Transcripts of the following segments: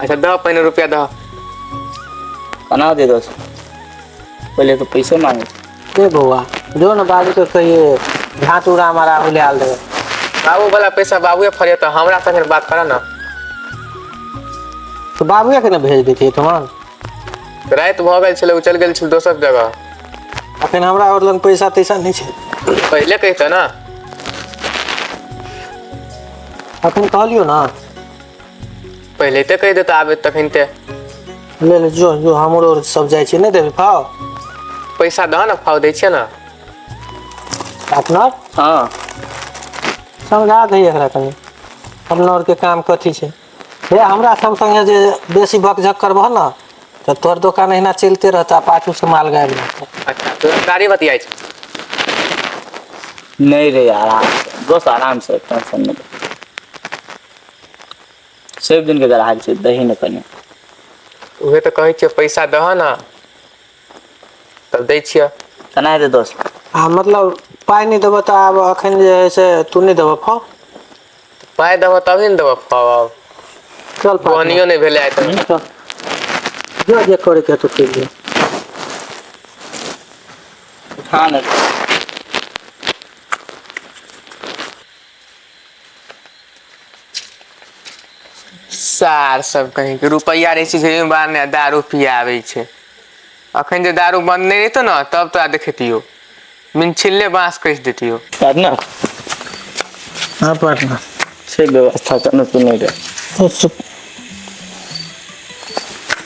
अच्छा दह पहिने रुपया दह कना दे दो पहले तो पैसे मांगे ए बौआ जो न बाबू के कहिए घाट उड़ा हमारा हुले आल देवे बाबू वाला पैसा बाबूए फरिया तो हमरा संगे बात करा ना तो बाबूए के न भेज देतिए तुम रात भऽ गेल छलै ओ चलि गेल छलै दोसर जगह अखन हमरा और लग पैसा तैसा नहीं छे पहिले कहितऽ ना अखन कहलियो ना पहिले तऽ कहि देतऽ आबे तखन ते ले ले जो जो हमरो आर सब जाइ छै नहि देबे फाव पैसा दह ने फाव दै छियै ने अपना हँ समझा दही एकरा कनि अपना आरके काम कथी छै हे हमरा सब संगे जे बेसी बकझक करबह ने तऽ तोहर दोकान अहिना चलिते रहतऽ आ पाछू से माल गायब रहतऽ अच्छा तो गाड़ी बतियाइ छै नहीं रे आराम से दोस्त आराम से टेंशन नहीं ले। सभि दिनके गराहक छै दही ने कनि उहे तऽ कहै छियह पैसा दहऽ ने तब दै छियह केना हेतै दोस्त आ मतलब पाइ नहि देबऽ तऽ आब एखन जे हइ से तू नहि देबऽ फौ पाइ देबऽ तभी ने देबऽ फौ आब चल पाइ बोहनियो नहि भेलै आइ तक हूँ, चल जो जे करैके हेतौ करि ले उठा ने सार सब कहीं के रुपैआ रहै छै जेबी बार ने दारू पियाबै छै अखन जे दारू बन्द नहि रहितो ने तब तोरा देखतियो मिनछिल्ले बाँस कस देतियो पार्टनर हाँ पार्टनर से व्यवस्था करना तो नहीं रहे तो सु-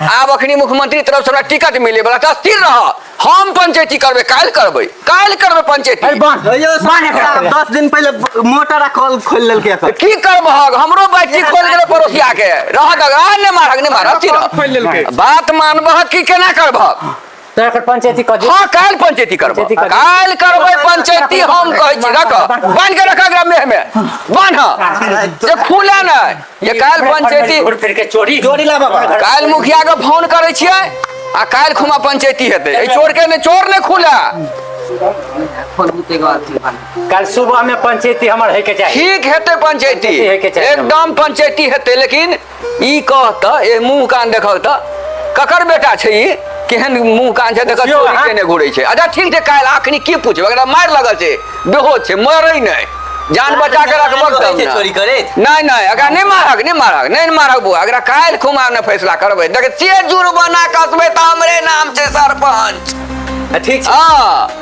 आब अखनी मुख्यमंत्री तरफ से हमरा टिकट मिले वाला था स्थिर रह हम पंचायती करबे काल्हि करबे काल्हि करबे पंचायती अरे बांध भैया बांध एकरा के। दस दिन पहले मोटर आ कॉल खोल लेलकै एकर। की करब हग हमरो बैटरी खोल गेलै पड़ोसिया के रह दगा ने मारक ने मारक की खोल लेलकै। बात मानबह की केना करबह तो एकर पंचायती कह हाँ काल पंचायती करबो पंचायती करबो। काल करबै पंचायती हम कहै छी रख बांध के रखा एकरा मेह में बांध जे खुले नै जे काल पंचायती घूर फिर के चोरी जोड़ी ला बाबा काल मुखिया के फोन करै छियै आ काल खुमा पंचायती हेतै ए चोर के ने चोर ने खुला कल सुबह में पंचायती हमर है के चाहिए ठीक हेतै पंचायती पंचायती हेतै चाहे। एकदम पंचायती हेतै लेकिन ई कह त ए मुंह कान देखौ त ककर बेटा छै ई केहन मुंह कान छै देखत देखियौ, चोरी अहाँ- केने घुरै छै अच्छा ठीक छै काल्हि आखनी की पूछबै एकरा मार लगल छै बेहोश छै मरै नहि जान बचा के रखबक तब छै चोरी ने करैत नहि नहि एकरा नहि मारक नहि मारक नहि ने मारक बौआ एकरा काल्हि खुमा ने फैसला करबै देख से जुर्माना कसबै त हमरे नाम छै सरपंच ठीक छै हाँ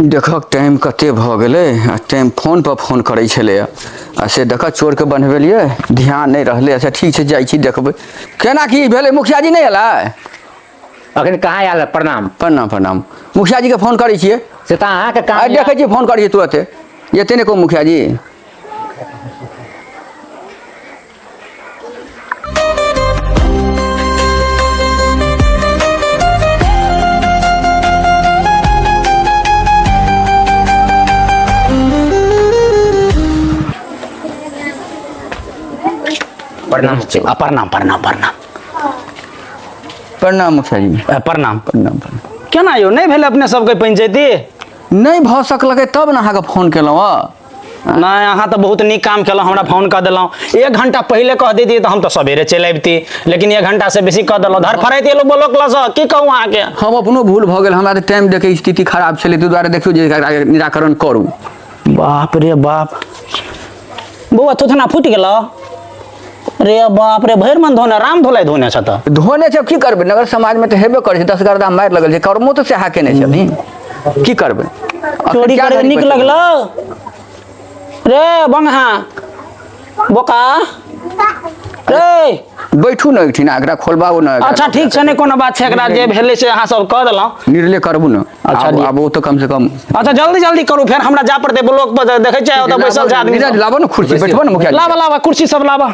देखक टाइम कते भऽ गेलै आ टाइम फोन पर फोन करै छलै आ से देखऽ चोर के बनबेलियै ध्यान नहि रहलै अच्छा ठीक छै जाइ छी देखबै केना की भेलै मुखिया जी नहि एलै अखन कहाँ आयल है? प्रणाम प्रणाम प्रणाम मुखिया जी के फोन करै छियै से तऽ अहाँके आ काम देखै छी फोन करै छियै तुरते एते नहि कहू मुखिया जी प्रणाम आ, प्रणाम प्रणाम प्रणाम प्रणाम मुखिया जी आ, प्रणाम प्रणाम प्रणाम केना यौ नहि भेल अपने सबके पंचायती नहि भऽ सकलकै तब ने अहाँके फोन केलहुँ हँ नहि अहाँ तऽ बहुत नीक काम केलहुँ हमरा फोन कऽ देलहुँ एक घंटा पहिले कह दैतियै तऽ हम तऽ सवेरे चलि अबिती लेकिन एक घंटा से बेसी कऽ देलहुँ धर फरैत एलहुँ बोलो क्लासँ की कहू अहाँके हम अपनो भूल भऽ गेल हमरा तऽ टाइम देखै स्थिति खराब छलै ताहि दुआरे देखियौ जे एकरा निराकरण करू बाप रे बाप बौआ थोथना फूटि गेलौ रे बाप रे भरि मन धोने राम धोलाइ धोने छ त धोने छै की करबै नगर समाजमे तऽ हेबे करै छै दस गर्दा मारि लगल छै कर्मो तऽ सएह केने छथिन की करबै चोरी करबै नीक लगलौ रे बंगहा बोका रे बैठू ने एकठिन एकरा खोलबाबू ने एकरा। अच्छा ठीक छै नहि कोनो बात छै एकरा जे भेलै से अहाँ सब कऽ देलहुँ निर्णय करबू ने अच्छा आब जी। आब ओ तऽ कम से कम अच्छा जल्दी जल्दी करू फेर हमरा जाय पड़तै ब्लॉक पर देखै छियै ओतऽ बैसल छै आदमी नीरज लाबो ने कुर्सी बैठबो ने मुखिया जी। लाबा लाबा कुर्सी सब लाबा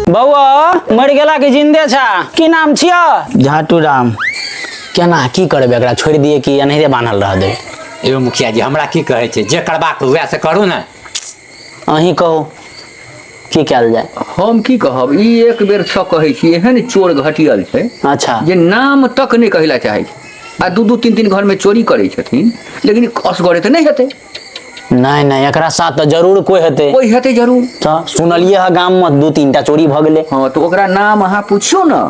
बौआ मरि गेला कि जिन्दे छा की नाम छियह झाटू राम केना की करबै एकरा छोड़ि दिए कि एनाहिते बान्हल रह दे एगो मुखिया जी हमरा की कहै छै जे करबाक हुए से करू ने अहीं कहू की कयल जाय हम की कहब ई एक बेर सँ कहै छी एहन चोर घटियल छै अच्छा जे नाम तक नहि कहै लए चाहै छै आ दू दू तीन तीन घरमे चोरी करै छथिन लेकिन असगरे तऽ नहि हेतै नहि नहि एकरा साथ तऽ जरूर कोइ हेतै कोइ हेतै जरूर तऽ सुनलियै ह गाम मे दू तीन टा चोरी भऽ गेलै हँ तऽ ओकरा नाम अहाँ पुछियौ ने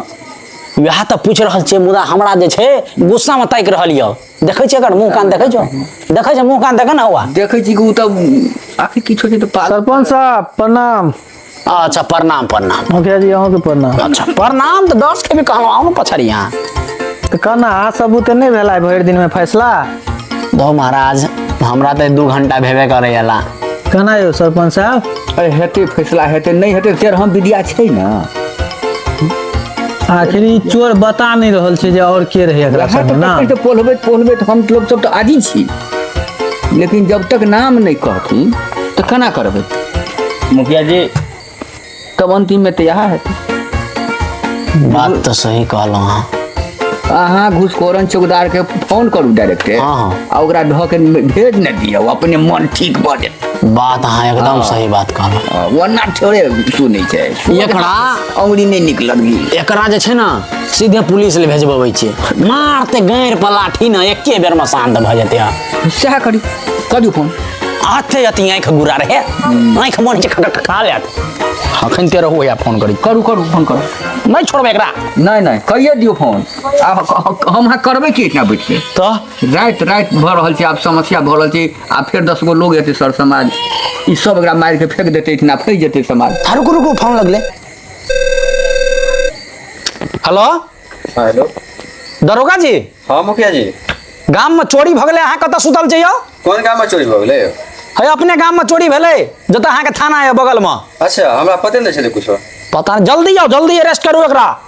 वएह तऽ पूछि रहल छियै मुदा हमरा जे छै गुस्सा मे ताकि रहल यऽ देखै छियै एकर मुँह कान देखै छौ देखै छै मुँह कान देखै ने हौआ देखै छी कि ओ तऽ आखिर किछो छै तऽ पागल सरपंच साहब प्रणाम अच्छा प्रणाम प्रणाम मुखिया जी अहूँ के प्रणाम अच्छा प्रणाम तऽ दस के भी कहलहुँ आउ ने पछड़िया तऽ कहना अहाँ सब बुते नहि भेला आइ भरि दिन में फैसला धो महाराज हमरा तऽ दू घंटा भेबे करै अला कहना यौ सरपंच साहब अरे हेतै फैसला हेतै नहि हेतै तेर हम विद्या छै ने आखिर ई चोर बता नहि रहल छै जे आओर के रहै एकरा वएह संग तऽ ना पकड़ि कऽ पोलबैत पोलबैत हम लोग सब तऽ आजी छी लेकिन जब तक नाम नहि कहथिन तऽ केना करबै मुखिया जी तब अन्तिममे तऽ इएह हेतै बात तऽ सही कहलहुँ हँ अहाँ घुसखोरन चौकीदारके फोन करू डायरेक्टे हँ, हँ। आ ओकरा ढऽ के भेज नहि दियौ अपने मन ठीक भऽ जेतै बात अहाँ एकदम सही बात कहलहुँ ओना थोड़े सुनै छै एकरा अंगुरी नहीं निकलत गी एकरा जे छै ने सीधे पुलिस ले भेजबबै छियै मारते गाँड़ पर लाठी ने एके बेर में शांत भऽ जेतै हँ। सएह करी करू फोन आते अति आँखि गुरा रहे आँखि मन छै खटक खा लेत अखन ते रहू या फोन करी करू करू फोन करू नहि छोड़बै एकरा नहीं नहीं कहिए दियो फोन आब हम अहाँ करबै की इतना बैठ के तऽ राति राति भऽ रहल छै आब समस्या भऽ रहल छै आ फेर दस गो लोग एतै सर समाज ई सब एकरा मारि के फेंक देतै इतना फैस जेतै समाज आ रुकू रुकू फोन लगले हेलो हाँ, हेलो दरोगा जी हाँ मुखिया जी गाम में चोरी भगले अहाँ कतऽ सुतल जइयो कौन काम में चोरी भऽ गेलै है अपने गाम में चोरी भेलै जतऽ अहाँके थाना है बगल में अच्छा हमरा पते नहि छलै कुछो पता नहि जल्दी आउ जल्दी अरेस्ट करू एकरा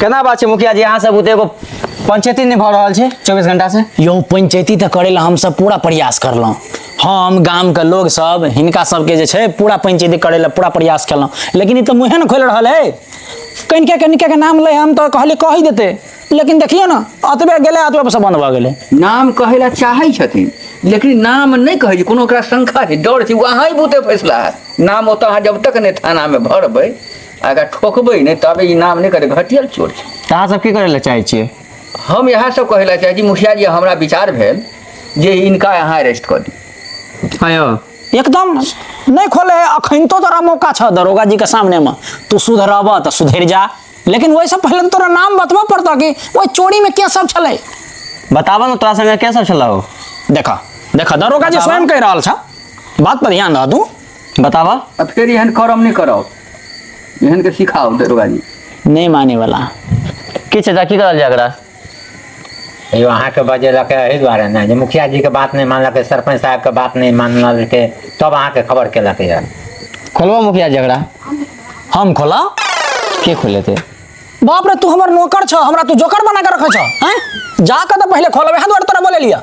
केना बात छै मुखिया जी अहाँ सब ओते एगो पंचायती नहि भऽ रहल छै चौबीस घंटा से यौ पंचायती तऽ करै लए हमसब पूरा प्रयास करलहुँ हम गामके लोग सब हिनका सबके जे छै पूरा पंचायती करै लए पूरा प्रयास केलहुँ लेकिन ई तऽ मुँहे ने खोलि रहल है कनिके कनिके के नाम लै हम तऽ कहलियै कहि देतै लेकिन देखियौ ने अतबे गेलै अतबे से बन्द भऽ गेलै नाम कहै लए चाहै छथिन लेकिन नाम नहि कहै छै कोनो ओकरा शंका छै डर छै ओ अहाँ बुते फैसला हैत नाम ओतऽ अहाँ जब तक नहि थानामे भरबै आ एकरा ठोकबै नहि तबे ई नाम नहि करतै घटियल चोर छै तऽ अहाँ सब की करै लए चाहै छियै हम इएह सब कहै लए चाहै छी मुखिया जी हमरा विचार भेल जे इनका अहाँ अरेस्ट कऽ दी हँ यौ एकदम नहि खोले है अखन तो तोरा मौका छह दरोगा जी के सामने में तू सुधरबह तऽ सुधरि जा लेकिन वैसे पहले तो तोरा नाम बतबऽ पड़तऽ कि ओहि चोरी में के सब छलै बताबऽ ने तोरा संगे के सब छलौ देखऽ देखऽ दरोगा जी स्वयं कहि रहल छ बात पर ध्यान रह तू बताबऽ अब फिर एहन करम नहीं करो एहन के सिखाओ दरोगा जी नहीं माने वाला की चाचा की करल जाय एकरा यो अहाँके बजेलक एहि दुआरे ने जे मुखिया जीके बात नहि मानलकै सरपंच साहबके बात नहि मानलकै तब अहाँके खबर केलक यऽ खोलबो मुखिया जी एकरा हम खोला के खोलेते बाप रे तू हमर नौकर छ हमरा तू जोकर बना के रखे छ हैं जाके तो पहले खोलबे है दुआरे तोरा बोले लिया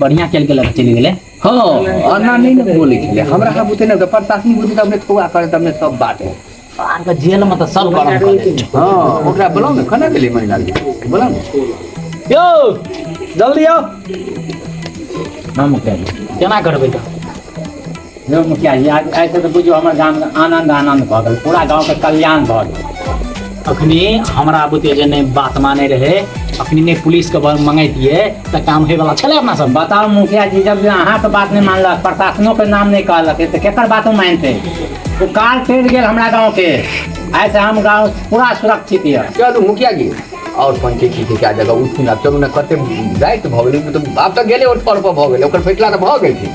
बढ़िया खेल के लक चलि गेलै हँ एना नहि ने बोलै छलै हमरा सब बुते ने प्रशासनिक बुते अपने फौआ करै त अपने सब बात है अहाँके जेल मे तऽ सब गरम कऽ देत हँ ओकरा बोलाउ ने केना गेलै महिला बोला ने यौ जल्दी आउ हम केना करबै तऽ यौ मुखिया जी आइ आइ से तऽ बुझियौ हमर गामके आनन्द आनन्द भऽ गेल पूरा गाँवके कल्याण भऽ गेल अखनी हमरा बुते जे नहि बात मानै रहै अखनी नहि पुलिसके ब- मंगैतियै तऽ काम होयवला छलै अपना सब बताउ मुखिया जी जब जे अहाँके बात नहि मानलक प्रशासनोके नाम नहि कहलक तऽ केकर बातो मानतै ओ काल पड़ि गेल हमरा गाँवके आइ से हम गाँव पूरा सुरक्षित यऽ चलू मुखिया जी और पंचे छी क्या जगह उठू ना चलू ना कते रात भऽ गेलै मतलब आब तऽ गेले और पर भऽ गेलै ओकर फैसला तऽ भऽ गेल छै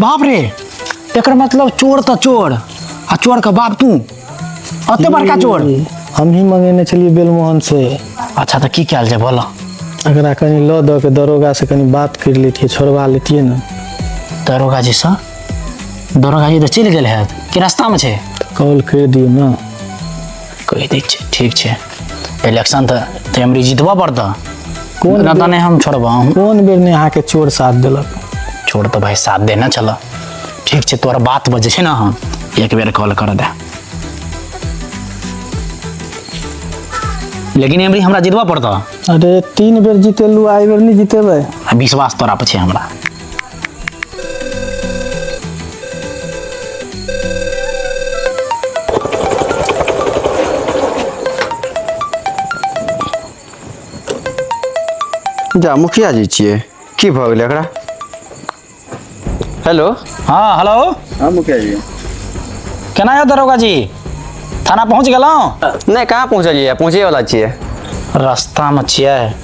बाप रे एकर मतलब चोर तऽ चोर आ चोर के बाप तू अते बड़का चोर हम ही मंगेने छलिए बेलमोहन से अच्छा तऽ की कयल जाय बोलऽ एकरा कनि लऽ दऽ के दरोगा से कनि बात कर लेतिए छोड़वा लेतिए ने दरोगा जी सँ दरोगा जी तऽ चलि गेल हैत कि रास्तामे छै कॉल कर दियौ ने कहि दै छै ठीक छै इलेक्शन तऽ तऽ हमरे जितबऽ पड़तऽ कोन कोन रता नहि हम छोड़बऽ हम कोन बेर ने अहाँके चोर साथ देलक छोड़ तऽ भाय साथ देना चलऽ ठीक छै तोहर बात बजै छै ने हम एक बेर कॉल कर दे लेकिन एमरी हमरा जितबऽ पड़तऽ अरे तीन बेर जीतेलू आइ बेर नहि जीतेबै आ विश्वास तोरा पर छै हमरा जा मुखिया जी छियै की भऽ गेलै एकरा हेलो हाँ हेलो हाँ मुखिया जी केना यऽ दरोगा जी थाना पहुँच गेलहुँ नहि कहाँ पहुँचलियै पहुँचेवला छियै रस्तामे छियै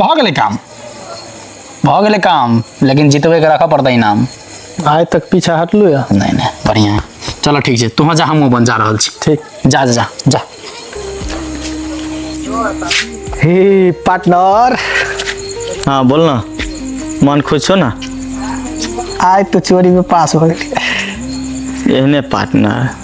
भऽ गेलै काम भऽ गेलै काम लेकिन जितबैके राखऽ पड़तै इनाम आइ तक पीछा हटलू या नहि नहि बढ़िआँ चलो ठीक छै तोहँ जा हमहूँ अपन जा रहल छी ठीक जा जा जा जा हे पार्टनर हाँ बोल ना मन खुश छो ना आइ तो चोरी में पास हो गेली एहने पार्टनर